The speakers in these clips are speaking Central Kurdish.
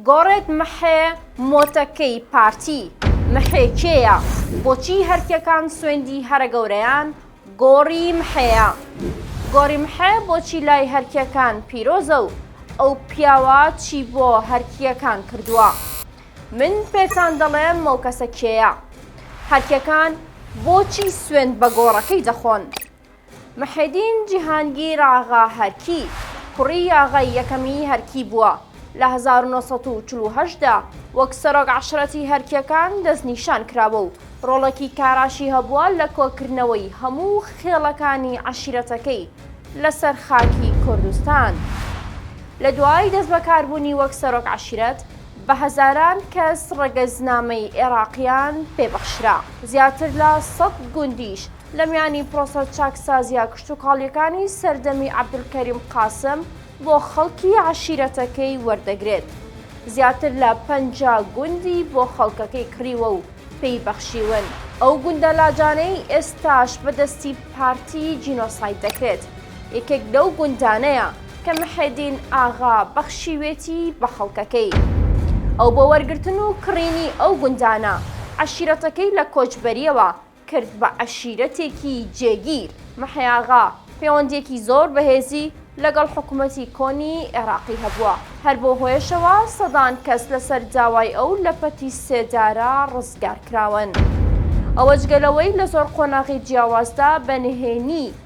گۆڕێت محێ مۆتەکەی پارتی محێ کێیە بۆچی هەرکێکان سوێندی هەرە گەورەیان گۆڕی محێیە گۆڕی محێ بۆچی لای هەرکێکان پیرۆزە و ئەو پیاوە چی بۆ هەرکیەکان کردووە من پێتان دەڵێم مەوکەسە کێیە هەرکێکان بۆچی سوێند بە گۆڕەکەی دەخۆن محێدین جیهانگیر ئاغا هەرکی، کوڕی یاغای یەکەمی هەرکی بووە، لە هەزار و نۆ سەد و چل و هەشت دا وەک سەرۆک عەشرەتی هەرکییەکان دەستنیشان کراوە و ڕۆڵێکی کاراشی هەبووە لە کۆکردنەوەی هەموو خێڵەکانی عەشیرەتەکەی لەسەر خاکی کوردستان. لە دوای دەستبەکاربوونی وەک سەرۆک عەشیرەت، بە هەزاران کەس ڕەگەزنامەی ئێراقییان پێ بەخشرا. زیاتر لە سەد گوندیش لە میانی پرۆسە چاکسازیە کشتوکاڵیەکانی سەردەمی عەبدولکەریم قاسم بۆ خەڵکی عەشیرەتەکەی وەردەگرێت زیاتر لە پەنجا گوندی بۆ خەڵکەکەی کڕیوە و پێی بەخشیون ئەو گوندە لاجانەی ئێستاش بەدەستی پارتی جینۆساید دەکرێت یەکێک لەو گوندانەیە کە محێدین ئاغا بەخشیوێتی بە خەڵکەکەی ئەو بۆ وەرگرتن و کڕینی ئەو گوندانە عەشیرەتەکەی لە کۆچبەریەوە کرد بە عەشیرەتێکی جێگیر. محێاغا پێوەندییەکی زۆر بەهێزی لەگەڵ حکومەتی کۆنی ئێراقی هەبووە، هەر بەو هۆیەشەوە سەدان کەس لەسەر داوای ئەو لە پەتی سێدارە ڕزگارکراون. ئەوە جگە لەوەی لە زۆر قۆناغی جیاوازدا بە نهێنی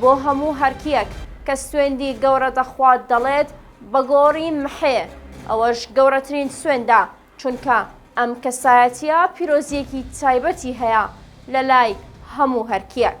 بۆ هەموو هەرکیەک کە سوێندی گەورە دەخوات دەڵێت بە گۆڕی محێ ئەوەش گەورەترین سوێندە چونکە ئەم کەسایەتیە پیرۆزیەکی تایبەتی هەیە لە لای هەموو هەرکیەک.